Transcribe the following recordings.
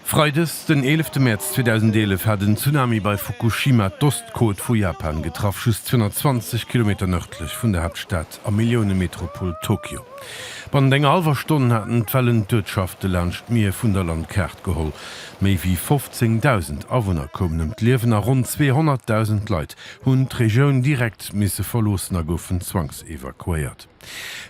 Freides, den 11 Mäerz 2011 hat en Tsunami bei Fukushima d'Ostkot vu Japan getraff, just 220 Kilometer nërdlech vun der Haaptstad a Milliounemetropol Tokio. Bannent enger hallwer Stonn haten d'Wellen d'Uertschafte laanscht d'Mier vun der Landkaart geholl. Méi wéi 15.000 Awunner koumen ëm d'Liewen a ronn 200.000 Leit hunn d'Regioun direkt misse verloossen a goufen zwangsevakuéiert.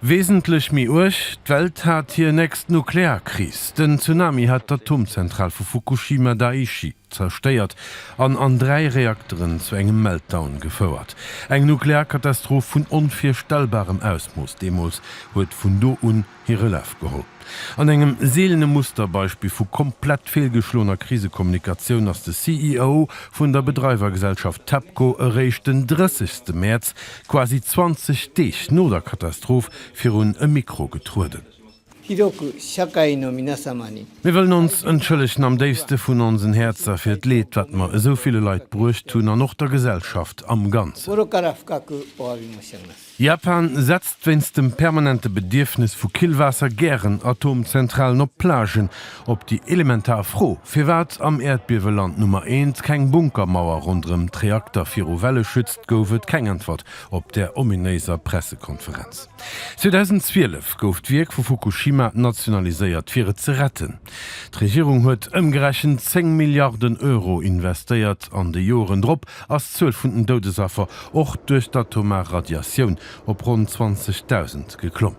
Wesentlech méi uerg, D'Welt hat hir nächst Nuklearkris. Den Tsunami hat d'Atomzentral vu Fukushima Daiichi zerstéiert an an dräi Reakteren zu engem Meltdown gefouert. Eng Nuklearkatastroph vun onvirstellbarem Ausmooss deemools huet vun do un hire Laf geholl. An engem seelene Musterbeispill vu komplett feelgeschloener Krisekommunikatioun ass de CEO vun der Bedreiwergesellschaft Tepco eréischt den 30 ste Mäerz, quasi 20 Deeg no der Katastroph, virun e Mikro getrueden. Mir wëllen ons entschëllegen am déifste vun onsen Häerzer fir d'Leed, wat mer esou ville Leit bruecht hunn an och der Gesellschaft am Ganzen. Japan setzt wéinst dem permanente Bedierfnes vu Killwaasser gären Atomzentralen op Plagen. Op déi elementar Fro, firwat am Äerdbieweland Nummer eent keng Bunkermauer ronderëm d'Reakter viru Welle schützt, gouf et keng Äntwert op där ominéiser Pressekonferenz. 2012 gouf d'Wierk vu Fukushima nationaliséiert, fir et ze retten. D'Regierung huet ëmgerechent 10 Milliarden Euro investéiert an de Joeren drop, ass d'Zuel vun den Doudesaffer och duerch d'atomar Radiatioun op ronn 20.000 geklomm.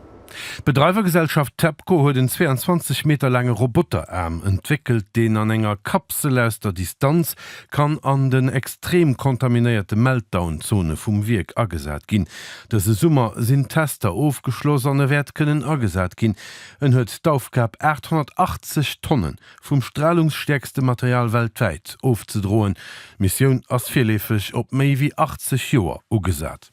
D'Bedreiwergesellschaft TEPCO huet en 22 Meter laange Roboteraarm entwéckelt, deen an enger Kapsel aus der Distanz kann an den extrem kontaminéierte Meltdown-Zone vum Wierk agesat ginn. Dëse Summer sinn d'Tester ofgeschloss an e wäert kënnen agesat ginn. En huet d'Aufgab 880 Tonne vum stralungsstäerkste Material weltwäit ofzedroen. D'Missioun ass virleefeg op méi wéi 80 Joer ugesat.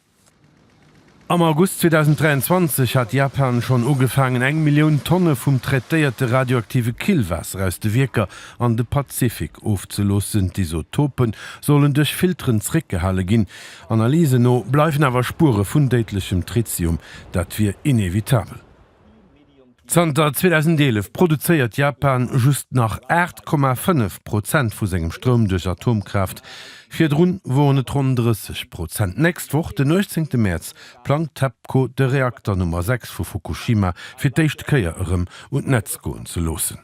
Am August 2023 hat Japan schonn ugefaangen, eng Millioun Tonne vum traitéierte radioaktive Killwaasser aus de Wierker an de Pazifik ofzeloossen. D'Isotope sollen duerch Filteren zeréckgehale ginn. Analysen no bleiwen awer Spuere vun déidlechem Tritium. Dat wier inevitabel. Zanter 2011 produzéiert Japan just nach 8,5 Prozent vu sengem Stroum duerch Atomkraaft, virdrun woren et ronn 30 Prozent. D'nächst Woch, den 18 Mäerz, plangt d'TEPCO de Reakter Nummer 6 vu Fukushima fir d'éischt Kéier erëm un d'Netz goen ze loossen.